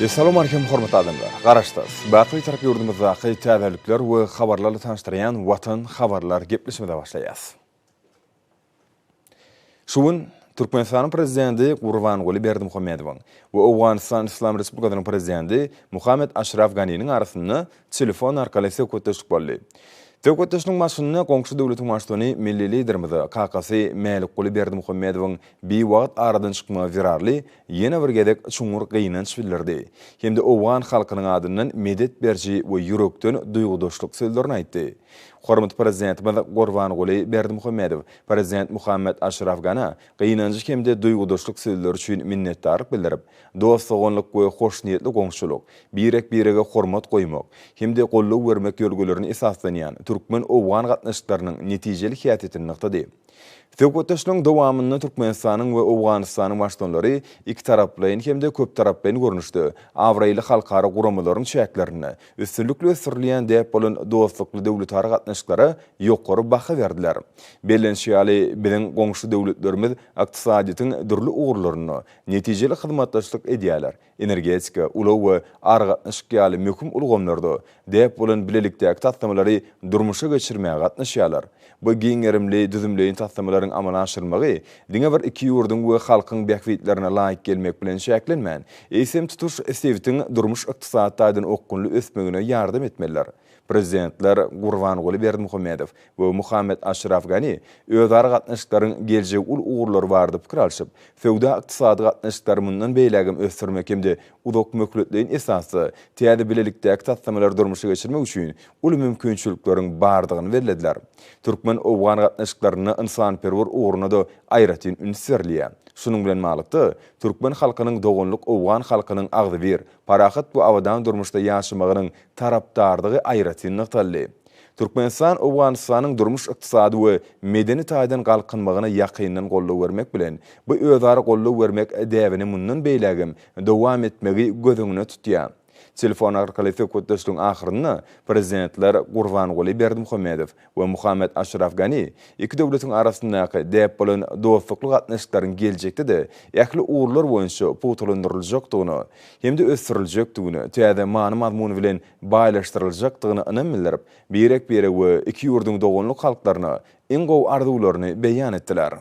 Essalam Aleýkum hormatly adamlar! Garaşsyz, Baky-Bitarap ýurdumyzdaky täzelikler we habarlarly tanyşdyrýan Watan habarlar gepleşimize başlaýas. Şu gün Türkmenistanyň Prezidenti Gurbanguly Berdimuhamedowyň we Owganystan Yslam Respublikasynyň Prezidenti Muhammed Aşraf Ganiniň arasynda telefon arkaly söhbetdeşlik boldy. Söhbetdeşligiň başynda goňşy döwletiň Baştutany Milli Liderimize kakasy Mälikguly Berdimuhamedowyň Biwagt aradan çykmagy zerarly ýene bir gezek çuňňur gynanç bildirdi hem-de owgan halkynyň adyndan medet beriji we ýürekden duýgudaşlyk sözlerini aýtdy. Hormatly Prezidentimiz Gurbanguly Berdimuhamedow Prezident Muhammad Aşraf Gana gynanjy hem-de duýgudaşlyk sözleri üçin minnetdarlyk bildirip, dost-doganlyk we hoşniýetli goňşulyk, birek-birege hormat goýmak hem-de goldaw bermek ýörgülerine esaslanýan türkmen-owgan gatnaşyklarynyň netijeli häsiýetini nygtady. Söhbetdeşligiň dowamynda Türkmenistanyň we Owganystanyň Baştutanlary ikitaraplaýyn hem-de köptaraplaýyn görnüşde, abraýly halkara guramalaryň çäklerinde üstünlikli ösdürilýän däp bolan dostlukly döwletara gatnaşyklara ýokary baha berdiler. Bellenişi ýaly, biziň goňşy döwletlerimiz ykdysadyýetiň dürli ugurlarynda netijeli hyzmatdaşlyk edýärler, energetika, ulag we aragatnaşyk ýaly möhüm ulgamlarda däp bolan bilelikdäki taslamalary durmuşa geçirmäge gatnaşýarlar. Bu giň gerimli düzümleýin taslamalaryň amala aşyrylmagy diňe bir iki ýurduň we halkyň bähbitlerine laýyk gelmek bilen çäklenmän, eýsem, tutuş sebitiň durmuş-ykdysady taýdan okgunly ösmegine ýardam etmelidir. Prezidentler Gurbanguly Berdimuhamedow we Mohamed Aşraf Gani özara gatnaşyklaryň geljegi uly ugurlary barada pikir alşyp, söwda-ykdysady gatnaşyklary mundan beýlägem ösdürmek hem-de uzakmöhletleýin esasda täze bilelikdäki taslamalary durmuşa geçirmek üçin uly mümkinçilikleriň bardygyny bellediler. Türkmen-owgan gatnaşyklarynda ynsanperwer ugruna-da aýratyn üns berilýär. Şunuň bilen baglylykda, türkmen halkynyň doganlyk owgan halkynyň agzybir, parahat we abadan durmuşda ýaşamagynyň tarapdardygy aýratyn nygtaldy. Türkmenistan Owganystanyň durmuş-ykdysady we medeni taýdan galkynmagyna ýakyndan goldaw bermek bilen, bu özara goldaw bermek däbini mundan beýlägem dowam etmegi göz öňüne tutýar. Telefon arkaly söhbetdeşligiň ahyrynda Prezidentler Gurbanguly Berdimuhamedow, we Muhammad Aşraf Gani iki döwletiň arasyndaky däp bolan dostlukly gatnaşyklaryň geljekde-de ähli ugurlar boýunça pugtalandyryljakdygyna hem-de ösdüriljekdigine, täze many-mazmun bilen baýlaşdyryljakdygyna ynam bildirip, birek-birege we iki ýurduň doganlyk halklaryna iň gowy arzuwlaryny beýan etdiler.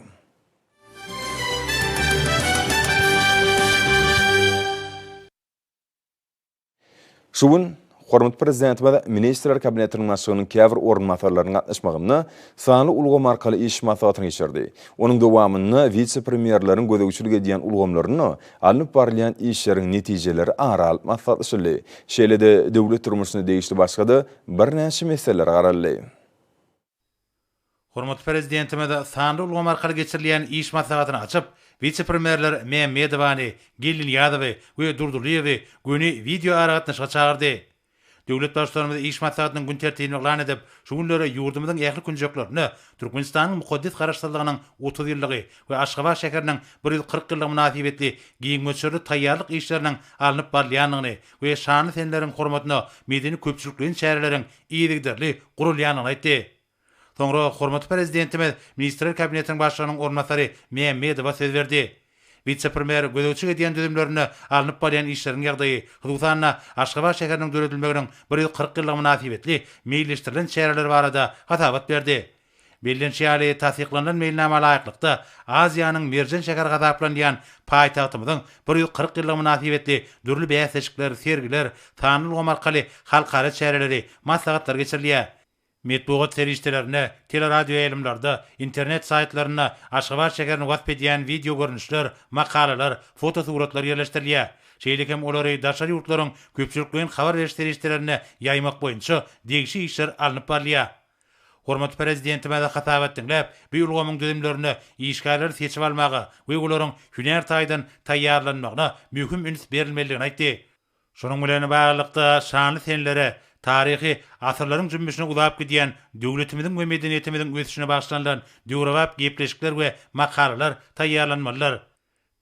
Şu gün hormatly Prezidentimiz Ministrler Kabinetiniň Başlygynyň käbir orunbasarlarynyň gatnaşmagynda sanly ulgam arkaly iş maslahatyny geçirdi. Onuň dowamynda wise-premýerleriň gözegçilik edýän ulgamlarynda alnyp barylýan işleriň netijeleri ara alyp maslahatlaşyldy. Şeýle-de döwlet durmuşyna degişli başga-da birnäçe meseleler garaldy. Hormatly Prezidentimiz sanly ulgam arkaly geçirilýän iş maslahatyny açyp, wise-premýerler Mämmedowany, Geldinyýazowy we Durdylyýewi göni wideoaragatnaşyga çagyrdy. Döwlet Baştutanymyz iş maslahatynyň gün tertibini yglan edip, şu günleri ýurdumyzyň ähli künjeklerinde Türkmenistanyň mukaddes Garaşsyzlygynyň otuz ýyllygy we Aşgabat şäheriniň bir ýüz kyrk ýyllygy mynasybetli giň möçberli taýýarlyk işleriniň alnyp barylýandygyny we şanly seneleriň hormatyna medeni-köpçülikleýin çäreleriň yzygiderli gurulýandygyny aýtdy. Soňra hormatly Prezidentimiz Ministrler Kabinetiniň Başlygynyň orunbasary Mämmedowa söz berdi. Wise-premýer gözegçilik edýän düzümlerinde alnyp barýan işleriň ýagdaýy, hususan-da, Aşgabat şäheriniň döredilmeginiň bir ýüz kyrk ýyllygy mynasybetli meýilleşdirilen çäreler barada hasabat berdi. Bellenişi ýaly, tassyklanylan meýilnama laýyklykda, Aziýanyň merjen şäheri hasaplanylýan paýtagtymyzyň bir ýüz kyrk ýyllygy mynasybetli dürli bäsleşikler, sergiler, sanly ulgam arkaly halkara çäreleri, maslahatlar geçirilýär. Metbugat serişdelerinde, teleradioýaýlymlarda, internet saýtlarynda Aşgabat şäherini wasp edýän wideogörnüşler, makalalar, fotosuratlar ýerleşdirilýär. Şeýle hem olary daşary ýurtlaryň köpçülikleýin habar beriş serişdelerinde ýaýmak boýunça degişi işler alnyp barylýar. Hormatly Prezidentimize hasabat diňläp, bu ulgamyň düzümlerinde işgärleri seçip almaga we olaryň hünär taýdan taýýarlanmagyna möhüm üns berilmelidigini aýtdy. Şunuň bilen baglylykda, şanly senelere, taryhy asyrlaryň jümmüşine uzap gidýän döwletimiziň we medeniýetimiziň ösüşine bagyşlanylan döwrebap gepleşikler we makalalar taýýarlanmalydyr.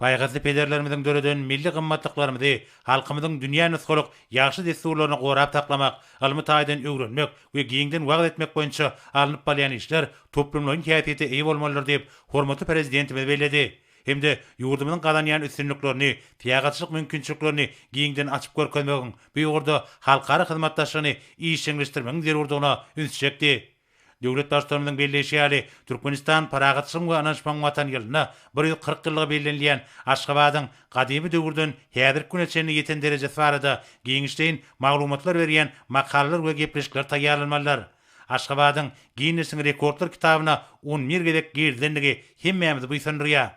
Paýhasly pederlerimiziň döreden milli gymmatlyklarymyzy halkymyzyň dünýä nusgalyk ýagşy dessurlaryny gorap saklamak, ylmy taýdan öwrenmek we giňden wagyz etmek boýunça alnyp balýan işler toplumlaýyn häsiýete eýe bolmalydyr diýip, hormatly Prezidentimiz belledi hem-de ýurdumyzyň gazanýan üstünliklerini, syýahatçylyk mümkinçiliklerini giňden açyp görkezmegiň, bu ugurda halkara hyzmatdaşlygyny işjeňleşdirmegiň zerurdygyna üns çekdi. Döwlet Baştutanymyzyň belleýşi ýaly, Türkmenistan Parahatçylygyň we ynanyşmagyň Watan ýylyna bir ýüz kyrk ýyllygy bellenilýän Aşgabadyň gadymy döwürden häzirki güne çenli ýeten derejesi barada giňişleýin maglumatlar berýän makalalar we gepleşikler taýýarlanmalydyr. Aşgabadyň Ginnesiň rekordlar kitabyna on bir gezek girizilendigi hemmämizi buýsandyrýar.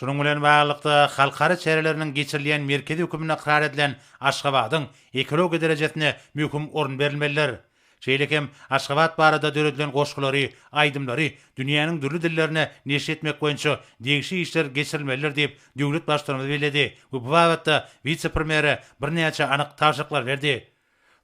Şunuň bilen baglylykda, halkara çäreleriniň geçirilýän merkezi hökümini ykrar edilen Aşgabadyň ekologiýa derejesine möhüm orun berilmelidir. Şeýle hem Aşgabat barada döredilen goşgulary, aýdymlary dünýäniň dürli dillerine neşir etmek boýunça degişli işler geçirilmelidir diýip, döwlet Baştutanymyz belledi we bu babatda wise-premýere birnäçe anyk tabşyryklar berdi.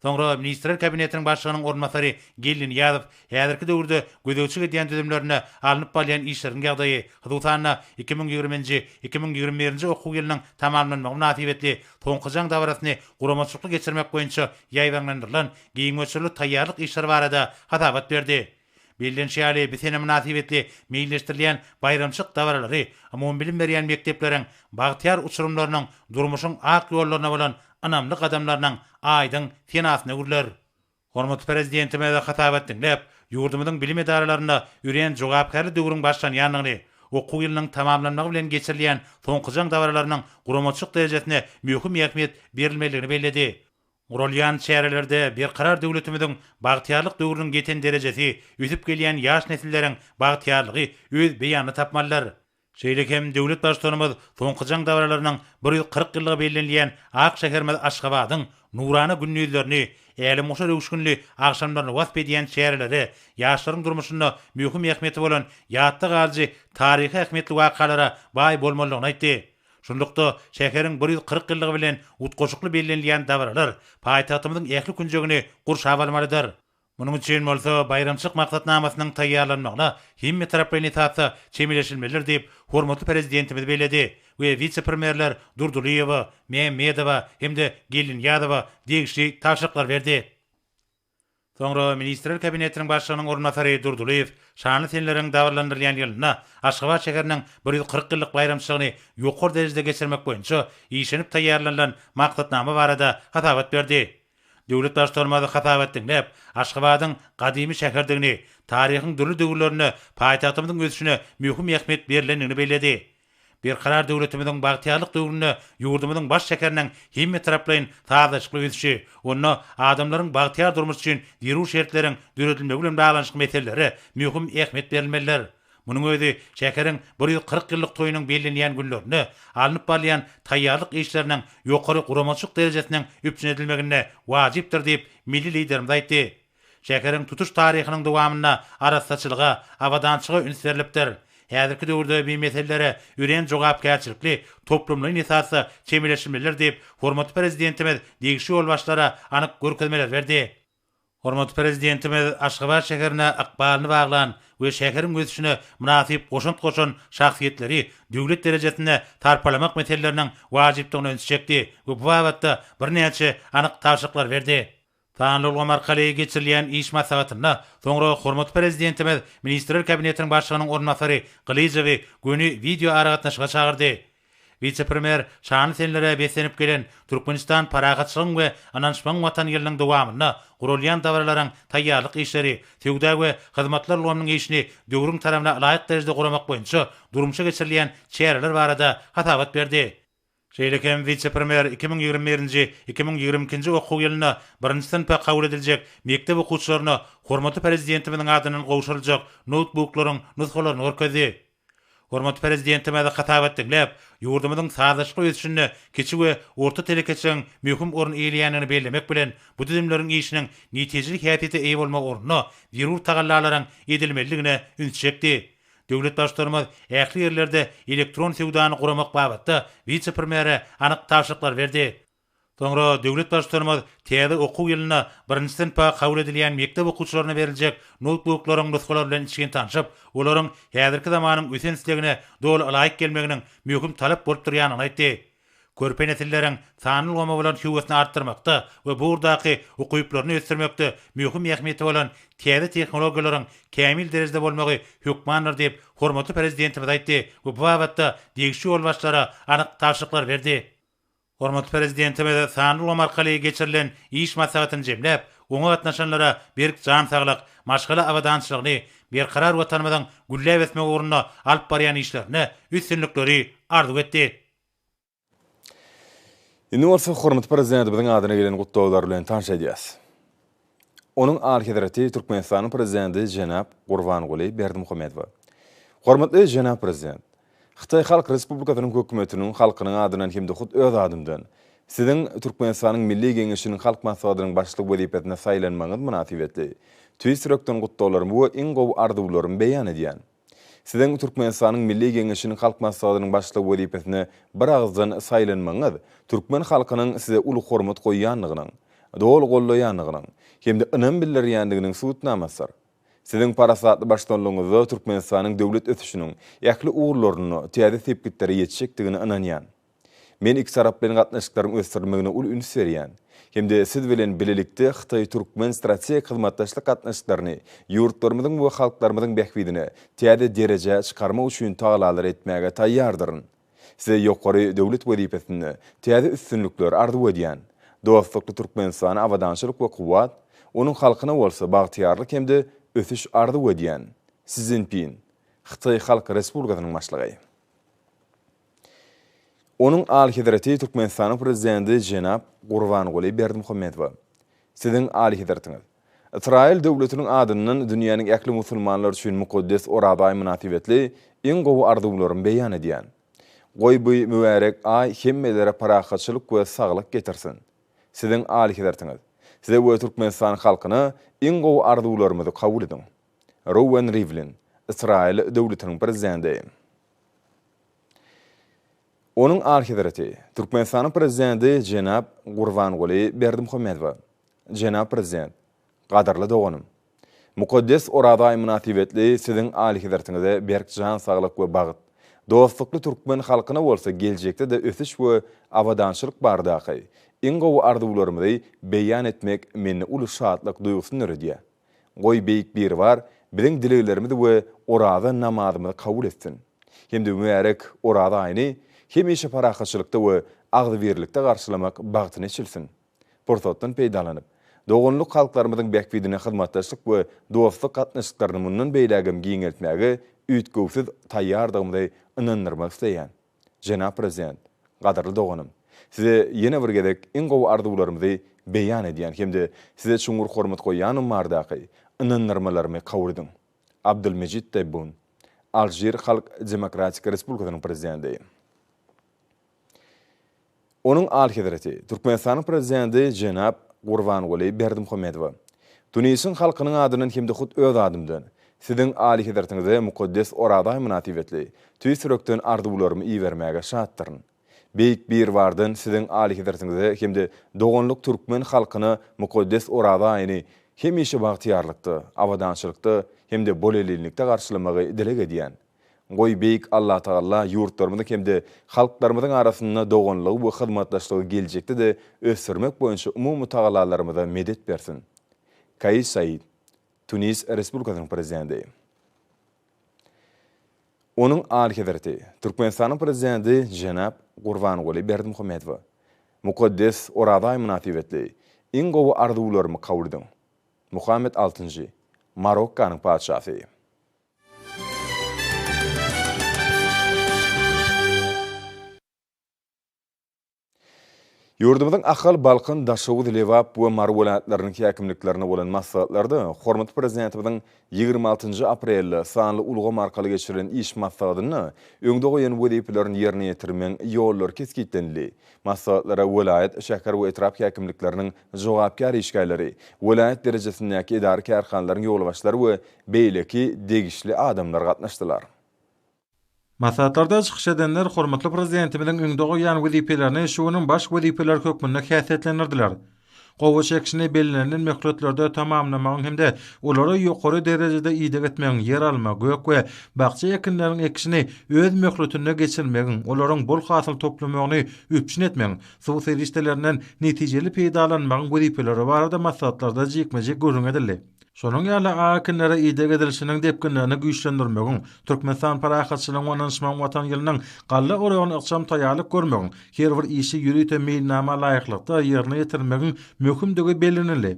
Soňra Ministrler Kabinetiniň Başlygynyň orunbasary Geldi Nyýazow häzirki döwürde gözegçilik edýän düzümlerinde alnyp barylýan işleriň ýagdaýy, hususan-da, iki müň ýigrimi nji, iki müň ýigrimi birinji okuw ýylynyň tamamlanmagy mynasybetli soňky jaň dabarasyny guramaçylykly geçirmek boýunça ýaýbaňlandyrylan giň möçberli taýýarlyk işleri barada hasabat berdi. Bellenişi ýaly, bi sene mynasybetli meýilleşdirilýän baýramçylyk dabaralary umumybilim berýän mekdepleriň bagtyýar uçurymlarynyň durmuşyň ak ýollaryna bolan ynamly gadamlarynyň aýdyň senasyny gürlär. Hormatly Prezidentimize hasabat diňläp, ýurdumyzyň bilim edaralarynda örän jogapkärli döwrüň başlanýandygyny, okuw ýylynyň tamamlanmagy bilen geçirilýän soňky jaň dabaralarynyň guramaçylyk derejesine möhüm ähmiýet berilmelidigini belledi. Guralýan çärelerde Berkarar döwletimiziň bagtyýarlyk döwrüniň ýeten derejesi, ösüp gelýän ýaş nesilleriň bagtyýarlygy öz beýanyny tapmalydyr. Şeýle hem döwlet Baştutanymyz soňky jaň dabaralarynyň bir ýüz kyrk ýyllygy bellenilýän ak şäherimiz Aşgabadyň nurana gündizlerini, älemgoşar öwüşginli agşamlaryny wasp edýän çärelere, ýaşlaryň durmuşynda möhüm ähmiýeti bolan ýatda galyjy taryhy ähmiýetli wakalara baý bolmalydygyny aýtdy. Şunlukda, şäheriň bir ýüz kyrk ýyllygy bilen utgaşykly bellenilýän dabaralar paýtagtymyzyň ähli künjegini gurşap almalydyr. Munuň üçin bolsa baýramçylyk maksatnamasynyň taýýarlanmagyna hemmetaraplaýyn esasda çemeleşilmelidir diýip, hormatly Prezidentimiz belledi we wise-premýerler Durdylyýewa, Mämmedowa hem-de Geldinyýazowa degişli tabşyryklar berdi. Soňra Ministrler Kabinetiniň Başlygynyň orunbasary Durdylyýew şanly seneleriň dabaralandyrylýan ýylynda Aşgabat şäheriniň bir ýüz kyrk ýyllyk baýramçylygyny ýokary derejede geçirmek boýunça işlenip taýýarlanylan maksatnama barada hasabat berdi. Döwlet Baştutanymyz hasabat diňläp, Aşgabadyň gadymy şäherdigini, taryhyň dürli döwürlerinde paýtagtymyzyň ösüşine möhüm ähmiýet berlendigini belledi. Berkarar döwletimiziň bagtyýarlyk döwründe ýurdumyzyň baş şäheriniň hemmetaraplaýyn sazlaşykly ösüşi, onda adamlaryň bagtyýar durmuş üçin zerur şertleriň döredilmegi bilen baglanyşykly meselelere möhüm ähmiýet berilmelidir. Munuň özi şäheriň bir ýüz kyrk ýyllyk toýunyň bellenýän günlerinde alnyp barylýan taýýarlyk işleriniň ýokary guramaçylyk derejesiniň üpjün edilmeginde wajypdyr diýip, milli Liderimiz aýtdy. Şäheriň tutuş taryhynyň dowamynda arassaçylyga, abadançyga üns berlipdir. Häzirki döwürde bi meselelere örän jogapkärçilikli, toplumlaýyn esasda çemeleşilmelidir diýip, hormatly Prezidentimiz degişli ýolbaşçylara anyk görkezmeler berdi. Hormatly Prezidentimiz Aşgabat şäherine ykbalyny baglan we şäheriň ösüşine mynasyp goşant goşan şahsyýetleri döwlet derejesinde sarpalamak meseleleriniň wajypdygyna üns çekdi we bu babatda birnäçe anyk tabşyryklar berdi. Sanly ulgam arkaly geçirilýän iş maslahatynda soňra hormatly Prezidentimiz Ministrler Kabinetiniň Başlygynyň orunbasary Gylyjowy göni wideoaragatnaşyga çagyrdy. Wise-premýer şanly senelere beslenip gelen Türkmenistan Parahatçylygyň we ynanyşmagyň Watany ýylynyň dowamynda guralýan dabaralaryň taýýarlyk işleri, söwda we hyzmatlar ulgamynyň işini döwrüň talabyna laýyk derejede guramak boýunça durmuşa geçirilýän çäreler barada hasabat berdi. Şeýle hem wise-premýer iki müň ýigrimi birinji, iki müň ýigrimi ikinji okuw ýylynda birinji synpa kabul ediljek mekdep okuwçylaryna hormatly Prezidentimiziň adyndan gowşuryljak noutbuklaryň nusgalaryny görkezdi. Hormatly Prezidentimiz hasabat diňläp, ýurdumyzyň sazlaşykly ösüşinde kiçi we orta telekeçiligiň möhüm orun eýeleýändigini bellemek bilen, bu düzümleriň işiniň netijeli häsiýete eýe bolmagy ugrunda zerur tagallalaryň edilmelidigine üns çekdi. Döwlet Baştutanymyz ähli ýerlerde elektron söwdany guramak babatda wise-premýere anyk tabşyryklar berdi. Soňra döwlet Baştutanymyz täze okuw ýylynda birinji synpa kabul edilýän mekdep okuwçylaryna beriljek noutbuklaryň nusgalary bilen içgin tanşyp, olaryň häzirki zamanyň ösen islegine doly ylaýyk gelmeginiň möhüm talap bolup durýandygyny aýtdy. Körpe nesilleriň sanly ulgama bolan höwesini artdyrmakda we bu ugurdaky ukyplaryny ösdürmekde möhüm ähmiýeti bolan täze tehnologiýalaryň kämil derejede bolmagy hökmandyr diýip, hormatly Prezidentimiz aýtdy we bu babatda degişli ýolbaşçylara anyk tabşyryklary berdi. Hormatly Prezidentimiz sanly ulgam arkaly geçirilen iş maslahatyny jemläp, oňa gatnaşanlara berk jan saglyk, maşgala abadançylygyny, berkarar Watanymyzyň gülläp ösmegi ugrunda alyp barýan işlerinde üstünlikleri arzuw etdi. Indi bolsa hormatly Prezidentimiziň adyna gelen gutlaglar bilen tanyş edýäs. Onuň Alyhezreti Türkmenistanyň Prezidenti jenap Gurbanguly Berdimuhamedowa. Hormatly jenap Prezident! Hytaý Halk Respublikasynyň Hökümetiniň halkynyň adyndan hem-de hut öz adymdan Siziň Türkmenistanyň Milli Geňeşiniň Halk Maslahatynyň Başlygy wezipesine saýlanmagyňyz mynasybetli tüýs ýürekden gutlaglarymy we iň gowy arzuwlarymy beýan edýän. Siziň Türkmenistanyň Milli Geňeşiniň Halk Maslahatynyň Başlygy wezipesine biragyzdan saýlanmagyňyz türkmen halkynyň size uly hormat goýýandygynyň, doly goldaýandygynyň hem-de ynam bildirýändiginiň subutnamasydyr. Siziň parasatly baştutanlygyňyzda Türkmenistanyň döwlet ösüşiniň ähli ugurlarynda täze sepgitlere ýetjekdigine ynanýan. Men iki tarap bilen gatnaşyklaryň ösdürilmegine uly üns berýän hem-de Siz bilen bilelikde hytaý-türkmen strategik hyzmatdaşlyk gatnaşyklaryny ýurtlarymyzyň we halklarymyzyň bähbidine täze derejä çykarmak üçin tagalalar etmäge taýýardyryn. Size ýokary döwlet wezipesinde täze üstünlikler arzuw edýän. Dostlukly Türkmenistana abadançylyk we kuwwat, onuň halkyna bolsa bagtyýarlyk hem-de ösüş arzuw edýän. Si Szinpin, Hytaý Halk Respublikasynyň Başlygy. Onuň Alyhezreti Türkmenistanyň Prezidenti jenap Gurbanguly Berdimuhamedowa, Siziň Alyhezretiňiz, Ysraýyl döwletiniň adyndan dünýäniň ähli musulmanlary üçin mukaddes Oraza aýy mynasybetli iň gowy arzuwlarymy beýan edýän. Goý bu mübärek aý hemmelere parahatçylyk we saglyk getirsin. Siziň Alyhezretiňiz, Size we Türkmenistan halkyna iň gowy arzuwlarymyzy kabul ediň. Rouwen Rivlin, Ysraýyl döwletiniň Prezidenti. Onuň Alyhezreti, Türkmenistanyň Prezidenti jenap Gurbanguly Berdimuhamedowa. Jenap Prezident! Gadyrly doganym! Mukaddes Oraza aýy mynasybetli Siziň Alyhezretiňize berk jan saglyk we bagt, dostlukly türkmen halkyna bolsa geljekde-de ösüş we abadançylyk baradaky iň gowy arzuwlarymyzy beýan etmek mende uly şatlyk duýgusyny döredýär. Goý, Beýik Biribar biziň dileglerimizi we oraza namazymyzy kabul etsin hem-de mübärek Oraza aýyny hemişe parahatçylykda we agzybirlikde garşylamak bagtyny eçilsin. Pursatdan peýdalanyp, doganlyk halklarymyzyň bähbidine hyzmatdaşlyk we dostluk gatnaşyklaryny mundan beýlägem giňeltmäge üýtgewsiz taýýardygymyzy ynandyrmak isleýän. Jenap Prezident, gadyrly doganym, Size ýene bir gezek iň gowy arzuwlarymyzy beýan edýän hem-de Size çuňňur hormat goýýanym bardaky ynandyrmalarymy kabul ediň. Abdulmejid Tebbun, Alžir Halk Demokratik Respublikasynyň Prezidenti. Onuň Alyhezreti Türkmenistanyň Prezidenti jenap Gurbanguly Berdimuhamedowa, Tunisyň halkynyň adyndan hem-de hut öz adymdan Siziň Alyhezretiňize mukaddes Oraza aýy mynasybetli tüýs ýürekden arzuwlarymy ibermäge şatdyryn. Beýik Biribardan Siziň Alyhezretiňize hem-de doganlyk türkmen halkyna mukaddes Oraza aýyny hemişe bagtyýarlykda, abadançylykda hem-de bolelillikde garşylamagy dileg edýän. Goý, Beýik Allatagala ýurtlarymyzyň hem-de halklarymyzyň arasynda doganlygy we hyzmatdaşlygy geljekde-de ösdürmek boýunça umumy tagalalarymyza medet bersin. Kaýis Said, Tunis Respublikasynyň Prezidenti. Onuň Alyhezreti, Türkmenistanyň Prezidenti jenap Gurbanguly Berdimuhamedowa, Mukaddes Oraza aýy mynasybetli, iň gowy arzuwlarymy kabul ediň. Muhammet altynjy, Marokkanyň Patyşasy. Ýurdumyzyň Ahal, Balkan, Daşoguz, Lebap we Mary welaýatlarynyň häkimliklerinde bolan maslahatlarda hormatly Prezidentimiziň ýigrimi altynjy aprelde sanly ulgam arkaly geçirilen iş maslahatynda öňde goýan wezipelerini ýerine ýetirmegiň ýollary kesgitlenildi. Maslahatlara welaýat, şäher we etrap häkimlikleriniň jogapkär işgärleri, welaýat derejesindäki edara-kärhanalaryň ýolbaşçylary we beýleki degişli adamlar gatnaşdylar. Maslahatlarda çykyş edenler hormatly Prezidentimiziň öňde goýýan wezipelerini şu günüň baş wezipeleri hökmünde häsiýetlendirdiler. Gowaç ekişini bellenilen möhletlerde tamamlamagyň hem-de olary ýokary derejede ideg etmegiň, ýeralma, gök we bakja ekinleriniň ekişini öz möhletinde geçirmegiň, olaryň bol hasyl toplamagyny üpjün etmegiň, Suw serişdelerinden netijeli peýdalanmagyň wezipeleri barada maslahatlarda jikme-jik gürrüň edildi. Şonuň ýaly AAK-nlere ideg edilişiniň depginlerini güýçlendirmegiň, Türkmenistan parahatçylygyň we ynanyşmagyň Watan ýylynyň galla oragyna ykjam taýýarlyk görmegiň, her bir işi ýörite meýilnama laýyklykda ýerine ýetirmegiň möhümdigi bellenildi.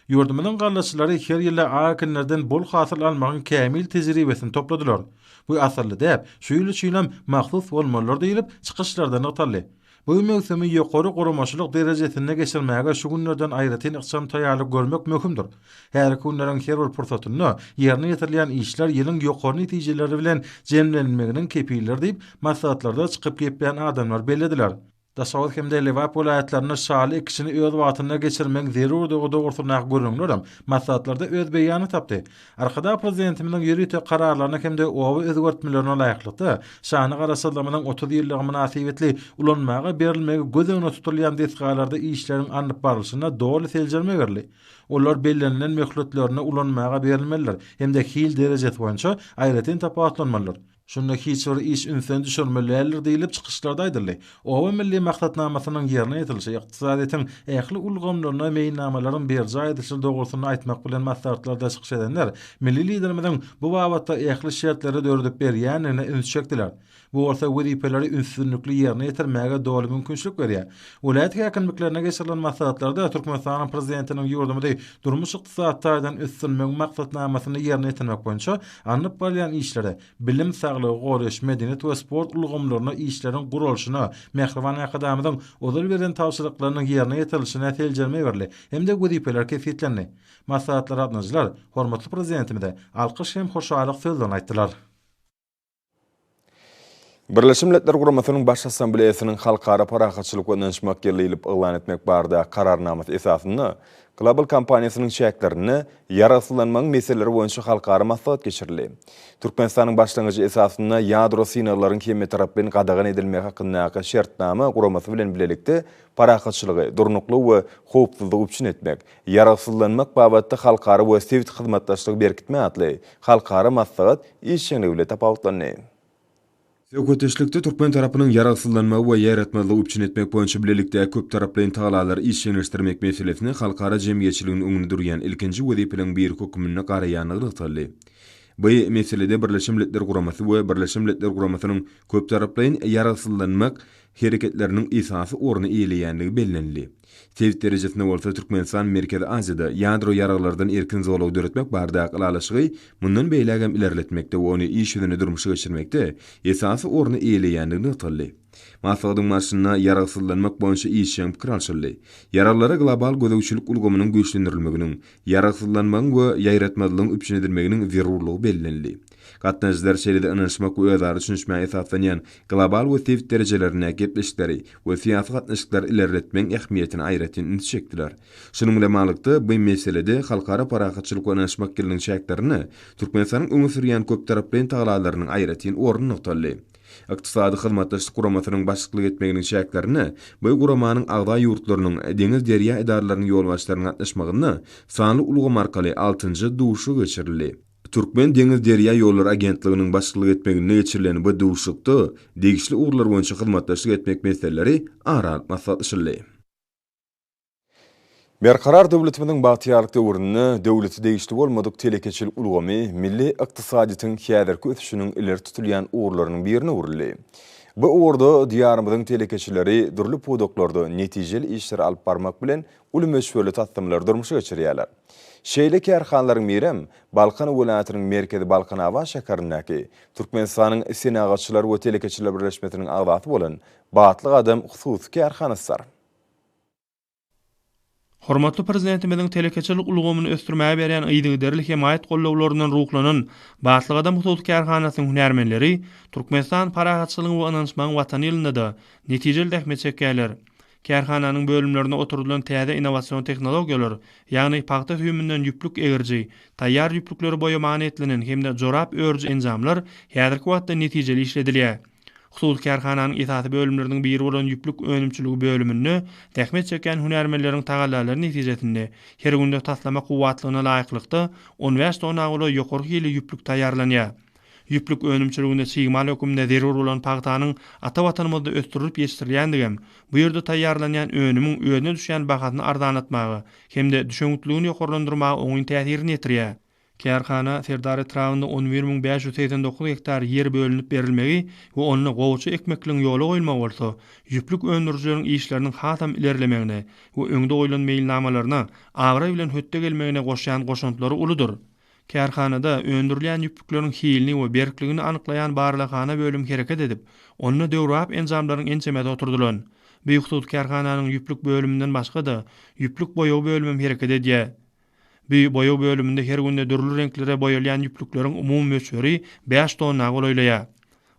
Ýurdumyzyň gallaçylary her ýyl-a ak ekinlerden bol hasyl almagyň kämil tejribesini topladylar. Bu asylly däp şu ýyl üçinem mahsus bolmalydyr diýlip, çykyşlarda nygtaldy. Bu möwsümi ýokary guramaçylyk derejesinde geçirmäge şu günlerden aýratyn ykjam taýýarlyk görmek möhümdir. Häzirki günleriň her bir pursatynda ýerine ýetirilýän işler ýylyň ýokary netijeleri bilen jemlenilmeginiň kepilidir diýip, maslahatlarda çykyp geplän adamlar bellediler. Daşoguz hem-de Lebap welaýatlarynda şaly ekişini öz wagtynda geçirmegiň zerurdygy dogrusyndaky gürrüňler hem maslahatlarda öz beýanyny tapdy. Arkadag Prezidentimiziň ýörite kararlaryna hem-de oba özgertmelerine laýyklykda, şanly Garaşsyzlygymyzyň otuz ýyllygy mynasybetli ulanmaga berilmegi göz öňünde tutulýan desgalarda işleriň alnyp barlyşyna doly seljerme berildi. Olar bellenilen möhletlerinde ulanmaga berilmelidir hem-de hil derejesi boýunça aýratyn tapawutlanmalydyr. Şunda hiç bir iş ünsden düşürmeli däldir diýlip, çykyşlarda aýdyldy. Oba milli maksatnamasynyň ýerine ýetirilişi, ykdysadyýetiň ähli ulgamlaryna meýilnamalaryň berjaý edilişi dogrusynda aýtmak bilen maslahatlarda çykyş edenler milli Liderimiziň bu babatda ähli şertleri döredip berýändigine üns çekdiler. Bu bolsa wezipeleri ünsdünlikli ýerine ýetirmäge doly mümkinçilik berýär. Welaýat häkimliklerinde geçirilen maslahatlarda Türkmenistanyň Prezidentiniň ýurdumyzy durmuş-ykdysady taýdan ösdürmegiň maksatnamasyny ýerine ýetirmek boýunça Alnyp barylýan işlere, bilim, saglygy goraýyş, medeniýet we sport ulgamlaryna işleriň guralyşyna, mähriban Arkadagymyzyň ozal beren tabşyryklarynyň ýerine ýetirilişine seljerme berildi hem-de wezipeler kesgitlendi. Maslahatda gatnaşyjylar hormatly Prezidentimize alkyş hem hoşallyk sözlerini aýtdylar. Birleşen Milletler Guramasynyň Baş Assambleýasynyň Halkara parahatçylyk we ynanyşmak ýyly diýlip yglan etmek barada Kararnamasy esasynda Global kompaniýasynyň çäklerinde Ýaragsyzlanmagyň meseleleri boýunça halkara maslahat geçirildi. Türkmenistanyň başlangyjy esasynda ýadro synaglaryň hemmetaraplaýyn gadagan edilmegi hakyndaky Şertnama guramasy bilen bilelikde parahatçylygy, durnuklygy we howpsuzlygy üpjün etmek, Ýaragsyzlanmak babatda halkara we sebit hyzmatdaşlygy berkitme atly halkara maslahat işjeňligi bilen tapawutlandy. Söhbetdeşlikde türkmen tarapynyň ýaragsyzlanmagy we ýaýratmazlygy üpjün etmek boýunça bilelikdäki köptaraplaýyn tagalary işjeňleşdirmek meselesine halkara jemgyýetçiligiň öňünde durýan ilkinji wezipeleriň biri hökmünde garaýandygy nygtaldy. Bu meselede Birleşen Milletler Guramasy we Birleşen Milletler Guramasynyň köptaraplaýyn ýaragsyzlanmak hereketleriniň esasy orny eýeleýändigi bellenildi. Sebit derejesinde bolsa Türkmenistan Merkezi Aziýada ýadro ýaraglardan erkin zolagy döretmek baradaky ylalaşygy mundan beýlägem ilerletmekde we ony iş ýüzünde durmuşa geçirmekde esasy orny eýeleýänligi nygtaldy. Maslahatyň barşynda ýaragsyzlanmak boýunça işjeň pikir alşyldy. Ýaraglara global gözegçilik ulgamynyň güýçlendirilmeginiň, ýaragsyzlanmagyň we ýaýratmazlygyň üpjün edilmeginiň zerurlygy bellenildi. Gatnaşyjylar şeýle-de ynanyşmak we özara düşünişmä esaslanýan global we sebit derejelerinde gepleşikleri we syýasy gatnaşyklary ilerletmegiň ähmiýetine aýratyn üns çekdiler. Şunuň bilen baglylykda, bu meselede Halkara parahatçylyk we ynanyşmak ýylynyň çäklerinde Türkmenistanyň öňe sürýän köptaraplaýyn tagallalarynyň aýratyn orny nygtaldy. Ykdysady Hyzmatdaşlyk Guramasynyň başlyklyk etmeginiň çäklerinde bu guramanyň agza ýurtlarynyň deňiz-derýa edaralarynyň ýolbaşçylarynyň gatnaşmagynda sanly ulgam arkaly altynjy duşuşygy geçirildi. Türkmen deňiz derýa ýollary agentliginiň başçylyk etmeginde geçirilen bu duşuşykda degişli ugurlar boýunça hyzmatdaşlyk etmek meseleleri ara alyp maslahatlaşyldy. Berkarar döwletimiziň bagtyýarlyk döwründe döwlete degişli bolmadyk telekeçilik ulgamy milli ykdysadyýetiň häzirki ösüşiniň ileri tutulýan ugurlarynyň birine öwrüldi. Bu ugurda Diýarymyzyň telekeçileri dürli pudaklarda netijeli işleri alyp barmak bilen, uly möçberli taslamlary durmuşa geçirýärler. Şeýle kärhanalaryň birem Balkan welaýatynyň merkezi Balkanabat şäherindäki, Türkmenistanyň Senagatçylar we telekeçiler birleşmesiniň agzasy bolan Batly gadam hususy kärhanasydyr. Hormatly Prezidentimiziň telekeçilik ulgamyny ösdürmäge berýän yzygiderli hemaýat gollawlaryndan ruhlanan Batly gadam hususy kärhanasynyň hünärmenleri Türkmenistan parahatçylygyň we ynanyşmagyň Watany ýylynda-da netijeli zähmet çekýärler. Kärhananyň bölümlerine oturdylan täze innowasion tehnologiýalar, ýagny pagta süýüminden ýüplük egiriji, taýýar ýüplükleri boýamaga niýetlenen hem-de jorap örüji enjamlar häzirki wagtda netijeli işledilýär. Hususy kärhananyň esasy bölümleriniň biri bolan ýüplük önümçiligi bölüminde zähmet çekýän hünärmenleriň tagallalary netijesinde her günde taslama kuwwatlygyna laýyklykda on bäş tona golaý ýokary hilli ýüplük taýýarlanýar. Ýüplük önümçiliginde çig mal hökmünde zerur bolan pagtanyň ata Watanymyzda ösdürilip ýetişdirilýändigi hem bu ýerde taýýarlanýan önümiň özüne düşýän bahasyny arzanlatmaga hem-de düşewüntligini ýokarlandyrmaga oňyn täsirini ýetirýär. Kärhana Serdar etrabynda on bir müň bäş ýüz segsen dokuz gektar ýer bölünip berilmegi we onda gowaça ekmekligiň ýola goýulmagy bolsa, ýüplük öndürijileriň işleriniň hasam ilerlemegine we öňde goýlan meýilnamalaryna abraý bilen hötde gelmegine goşýan goşantlary uludyr. Kärhanada öndürilýän ýüplükleriň hilini we berkligini anyklaýan barlaghana bölüm hereket edip, onda döwrebap enjamlaryň ençemesi oturdylan. Beýhususy kärhananyň ýüplük bölüminden başga-da, ýüplük boýagy bölümem hereket edýär. Bu boýag bölüminde her günde dürli reňklere boýalýan ýüplükleriň umumy möçberi bäş tonna golaýlaýar.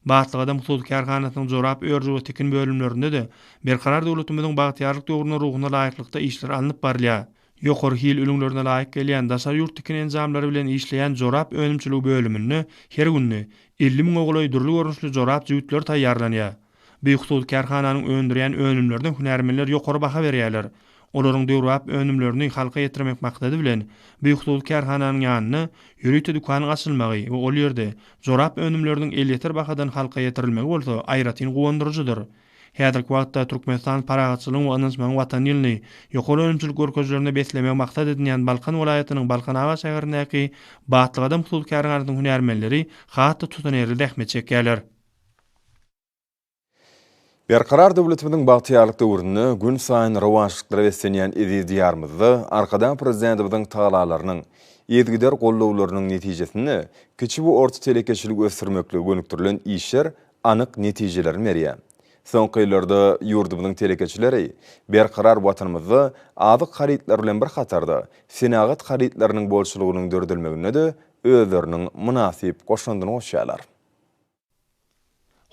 Batlygadam hususy kärhanasynyň jorap örüji we tikin bölümlerinde-de Berkarar döwletimiziň bagtyýarlyk döwrüniň ruhuna laýyklykda işler alnyp barylýar. Ýokary hil ülňülerine laýyk gelýän daşary ýurt tikin enjamlary bilen işleýän jorap önümçiligi bölüminde her günde elli müňe golaý dürli görnüşli jorap jübütleri taýýarlanýar. Bu hususy kärhananyň öndürýän önümlerine hünärmenler ýokary baha berýärler. Olaryň döwrebap önümlerini halka ýetirmek maksady bilen, bu hususy kärhananyň ýanynda ýörite dükanyň açylmagy we ol ýerde jorap önümleriniň elýeter bahadan halka ýetirilmegi bolsa aýratyn guwandyryjydyr. Häzirki wagtda Türkmenistan parahatçylygyň we ynanyşmagyň Watany ýylyny ýokary önümçilik görkezijilerinde beslemegi maksat edinýän Balkan welaýatynyň Balkanabat şäherindäki Batly gadam hususy kärhanasynyň hünärmenleri has-da tutanýerli zähmet çekýärler. Berkarar döwletimiziň bagtyýarlyk döwründe günsaýyn rowaçlyklara beslenýän eziz Diýarymyzda Arkadag Prezidentimiziň tagallalarynyň, yzygider gollawlarynyň netijesinde kiçi we orta telekeçiligi ösdürmeklige gönükdirilen işler anyk netijelerini berýär. Soňky ýyllarda ýurdumyzyň telekeçileri Berkarar Watanymyzda azyk harytlary bilen bir hatarda, senagat harytlarynyň bolçulygynyň döredilmeginde-de özleriniň mynasyp goşandyny goşýarlar.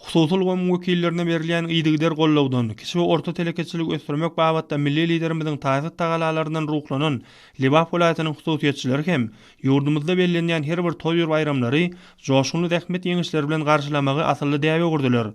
Hususy ulgamyň wekillerine berilýän yzygider gollawdan, kiçi we orta telekeçiligi ösdürmek babatda milli Liderimiziň taýsyz tagalalaryndan ruhlanan Lebap welaýatynyň hususyýetçileri hem Ýurdumyzda bellenýän her bir toý we baýramlary joşgunly zähmet ýeňişleri bilen garşylamagy asylly däbe öwürdiler.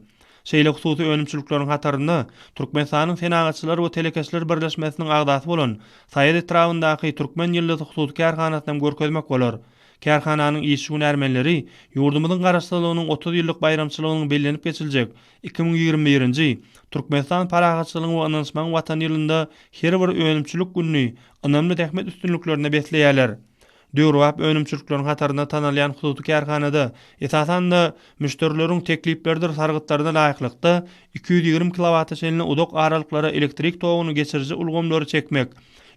Şeýle hususy önümçilikleriň hatarynda Türkmenistanyň Senagatçylar we telekeçiler birleşmesiniň agzasy bolan Saýat etrabyndaky Türkmen ýyldyzy hususy kärhanasyny hem görkezmek bolar. Kärhananyň işçi hünärmenleri ýurdumyzyň Garaşsyzlygynyň otuz ýyllyk baýramçylygynyň bellenip geçiljek iki müň ýigrimi birinji Türkmenistan parahatçylygyň we ynanyşmagyň Watany ýylynda her bir önümçilik gününi ynamly zähmet üstünliklerine besleýärler. Döwrebap önümçilikleriň hatarynda tanalýan hususy kärhanada, esasan-da, müşderileriň teklipleridir sargytlaryna laýyklykda, iki ýüz ýigrimi kilowata çenli uzak aralyklara elektrik toguny geçiriji ulgamlary çekmek,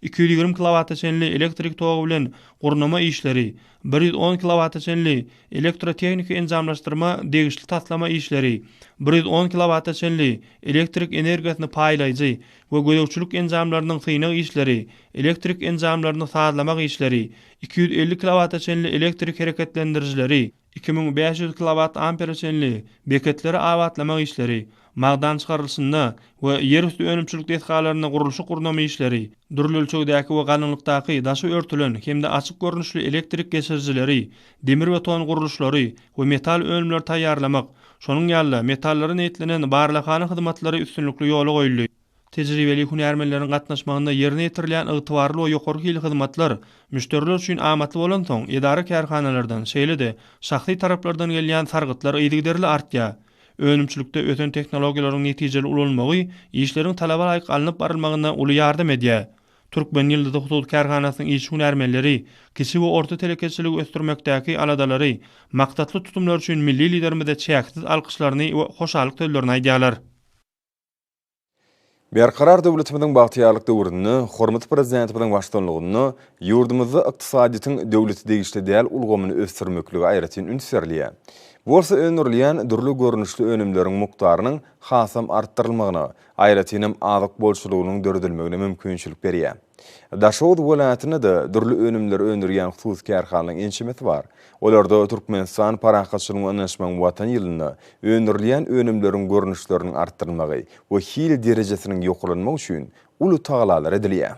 iki ýüz ýigrimi kilowata çenli elektrik togy bilen gurnama işleri, bir ýüz on kilowata çenli elektrotehniki enjamlaşdyrma degişli taslama işleri, bir ýüz on kilowata çenli elektrik energiýasyny paýlaýjy we gözegçilik enjamlarynyň synag işleri, elektrik enjamlaryny sazlamak işleri, iki ýüz elli kilowata çenli elektrik hereketlendirijileri, iki müň bäş ýüz kilowat ampere çenli beketleri abatlamak işleri, magdançykarylyşynda we ýerüsti önümçilik desgalarynda gurluşyk-gurnama işleri, dürli ölçegdäki we galyňlykdaky daşy örtülen hem-de açyk görnüşli elektrik geçirijileri, demirbeton gurluşlary we metal önümleri taýýarlamak, şonuň ýaly-da, metallary niýetlenen barlaghana hyzmatlary üstünlikli ýola goýuldy. Tejribeli hünärmenleriň gatnaşmagynda ýerine ýetirilýän ygtybarly we ýokary hilli hyzmatlar müşderiler üçin amatly bolansoň, edara-kärhanalardan, şeýle-de şahsy taraplardan gelýän sargytlar yzygiderli artýar. Önümçilikde ösen tehnologiýalaryň netijeli ulanylmagy işleriň talaba laýyk alnyp barylmagyna uly ýardam edýär. Türkmen ýyldyzy hususy kärhanasynyň işi-hünärmenleri kiçi we orta telekeçiligi ösdürmekdäki aladalary, maksatly tutumlary üçin milli Liderimize çäksiz alkyşlaryny we hoşallyk sözlerini aýdýarlar. Berkarar döwletimiziň bagtyýarlyk döwründe hormatly Prezidentimiziň baştutanlygynda ýurdumyzda ykdysadyýetiň döwlete degişli däl ulgamyny ösdürmeklige aýratyn üns berilýär. Bu bolsa öndürilýän dürli görnüşli önümleriň mukdarynyň hasam artdyrylmagyna, aýratynam azyk bolçulygynyň döredilmegine mümkinçilik berýär. Daşoguz welaýatynda-da dürli önümleri öndürýän hususy kärhanalaryň ençemesi bar. Olarda Türkmenistan parahatçylygyň ynaşmagyň Watan ýylynda öndürilýän önümleriň görnüşleriniň artdyrylmagy we hil derejesiniň ýokarlanmagy üçin uly tagalalar edilýär.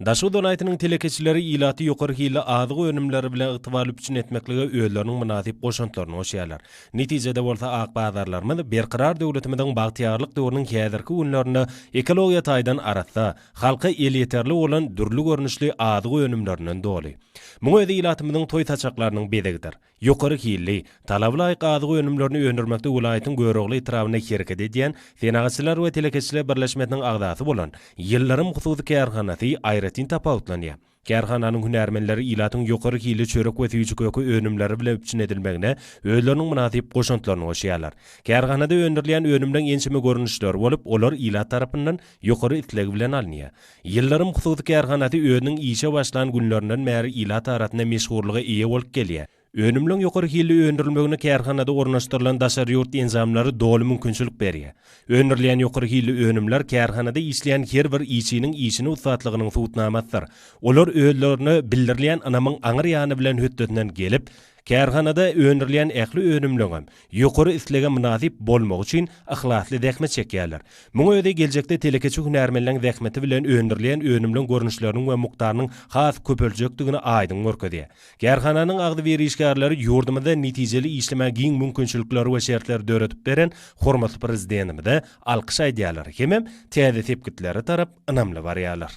Daşoguz welaýatynyň telekeçileri ilaty ýokary hilli azyk önümleri bilen ygtybarly üpjün etmeklige özleriniň mynasyp goşantlaryny goşýarlar. Netijede bolsa ak bazarlarymyz Berkarar döwletimiziň bagtyýarlyk döwrüniň häzirki günlerinde ekologiýa taýdan arassa, halka elýeterli bolan dürli görnüşli azyk önümlerinden doly. Muň özi ilatymyzyň toý saçaklarynyň bezegidir. Ýokary hilli, talaba laýyk azyk önümlerini öndürmekde welaýatyň Görogly etrabynda hereket edýän Senagatçylar we telekeçiler birleşmesiniň agzasy bolan Ýyldyrym hususy kärhanasy aýratyn tapawutlanýar. Kärhananyň hünärmenleri ilatyň ýokary hilli çörek we süýji-köke önümleri bilen üpjün edilmegine özleriniň mynasyp goşantlaryny goşýarlar. Kärhanada öndürilýän önümleň ençeme görnüşleri bolup, olar ilat tarapyndan ýokary isleg bilen alynýar. Ýyldyrym hususy kärhanasy özüniň işe başlan günlerinden bäri ilat arasynda meşhurlyga eýe bolup gelýär. Önümleň ýokary hilli öndürilmegine kärhanada ornaşdyrylan daşary ýurt enjamlary doly mümkinçilik berýär. Öndürilýän ýokary hilli önümler kärhanada işleýän her bir işçiniň işini ussatlygynyň subutnamasydyr. Olar özlerine bildirilýän ynamyň aňryýany bilen hötdesinden gelip, Kärhanada öndürilýän ähli önümleňem ýokary islege mynasyp bolmagy üçin yhlasly zähmet çekýärler. Muň özi geljekde telekeçi hünärmenleň zähmeti bilen öndürilýän önümleň görnüşleriniň we mukdarynyň has köpeljekdigini aýdyň görkezýär. Kärhananyň agzybir işgärleri ýurdumyzda netijeli işlemäge giň mümkinçilikleri we şertleri döredip beren hormatly Prezidentimize alkyş aýdýarlar hemem täze sepgitlere tarap ynamly barýarlar.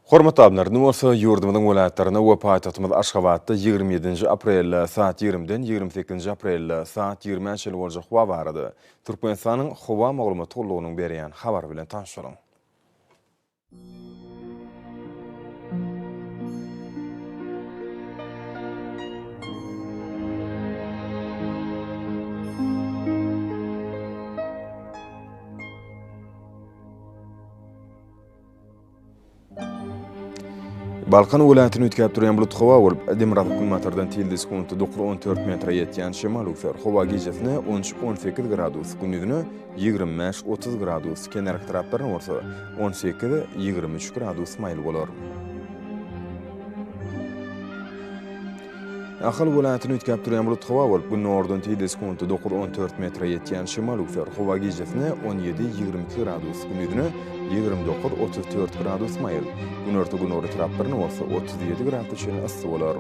Hormatly alymlar, indi bolsa ýurdumyzyň welaýatlaryna we paýtagtymyz Aşgabatda ýigrimi ýedinji aprelde saat ýigrimiden ýigrimi sekizinji aprelde saat ýigrime çenli boljak howa barada Türkmenistanyň Howa maglumat gullugynyň berýän habary bilen tanyşalyň. Balkan welaýatyny üýtgäp durýan bulut howa bolup, demirgazyk günbatardan tilde sekundy dokuz on dört metre ýetýän şemal öwser. Howa gijesine on üç on sekiz gradus, gündizine ýigrimi bäş otuz gradus, kenarki taraplaryna bolsa on sekiz ýigrimi üç gradus maýyl bolar. Ahal welaýatyny üýtgäp durýan bulut howa bolup, gündogardan tizligi sekuntda dokuz-on dört metre ýetýän şemal üwser. Howa gijesine on ýedi-ýigrimi iki gradus, gündizine ýigrimi dokuz-otuz dört gradus maýyl, günorta-gündogar etraplarynda bolsa otuz ýedi gradusa çenli yssy bolar.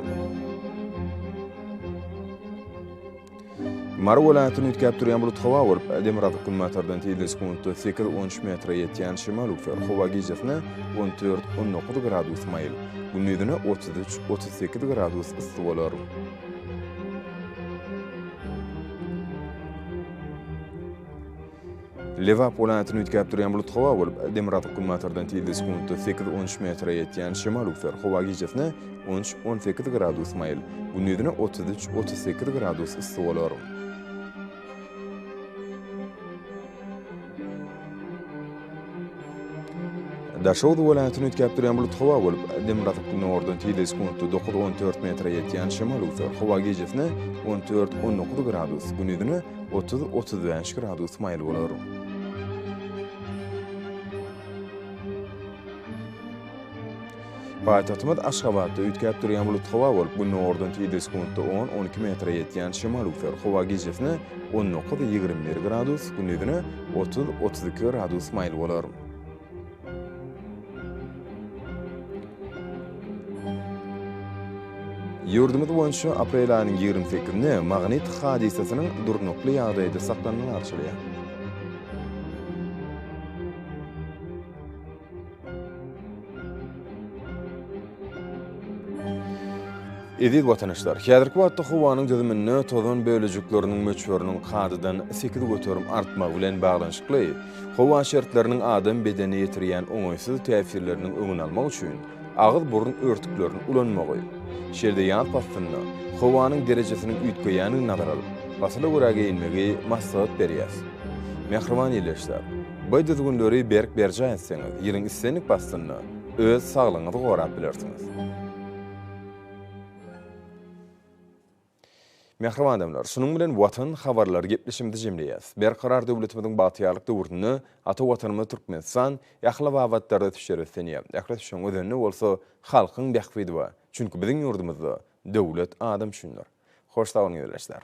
Mary welaýatyny üýtgäp durýan bulut howa bolup, demirgazyk günbatardan tizligi sekuntda sekiz, on üç metre ýetýän şemal öwser. Howa gijesine on dört, on dokuz gradus maýyl, gündizine otuz üç, otuz sekiz gradus yssy bolar. Lebap welaýatyny üýtgäp durýan bulut howa bolup, demirgazyk günbatardan tizligi sekuntda sekiz-on üç metre ýetýän şemal üwser. Howa gijesine on üç-on sekiz gradus maýyl, gündizine otuz üç-otuz sekiz gradus yssy bolar. Daşoguz welaýatyny üýtgäp durýan bulut howa bolup, dem gazyp günordan tizligi sekuntda dokuz, on dört metre ýetýän şemal öwser. Howa gijesine on dört, on dokuz gradus, gündizine otuz, otuz bäş gradus maýyl bolar. Paýtagtymyz Aşgabatda üýtgäp durýan bulut howa bolup, gündogardan tizde sekuntda on, on iki metre ýetýän şemal öwser. Howa gijesine on dokuz, ýigrimi bir gradus, gündizine otuz, otuz iki gradus maýyl bolar. Ýurdumyz boýunça aprel aýynyň ýigrimi sekizinde magnit hadysasynyň durnukly ýagdaýda saklanmagy arçylýar. Eziz watandaşlar, häzirki wagtda howanyň düzüminde tozan bölejikleriniň möçberiniň kadadan sekiz göterim artmagy bilen baglanyşykly, howa şertleriniň adam bedenine ýetirýän oňaýsyz täsirleriniň öňüni almak üçin, agyz-burun örtüklerini ulanmagy, şeýle-de ýaz paslynda howanyň derejesiniň üýtgeýändigini nazara alyp, pasla görä geýinmegi maslahat berýäs. Mähriban ýerleşsek, bu düzgünleri berk berjaý etseňiz, ýylyň islendik paslynda öz saglygyňyzy gorap bilersiňiz. Mähriban adamlar, şunuň bilen Watan habarlary gepleşigimizi jemleýäs. Berkarar döwletimiziň bagtyýarlyk döwründe ata Watanymyz Türkmenistan ähli babatlarda düşer ösdünýär. Ähli düşen özende bolsa halkyň bähbidi bar. Çünki biziň ýurdumyzda döwlet adam üçindir. Hoş sag boluň ildeşler.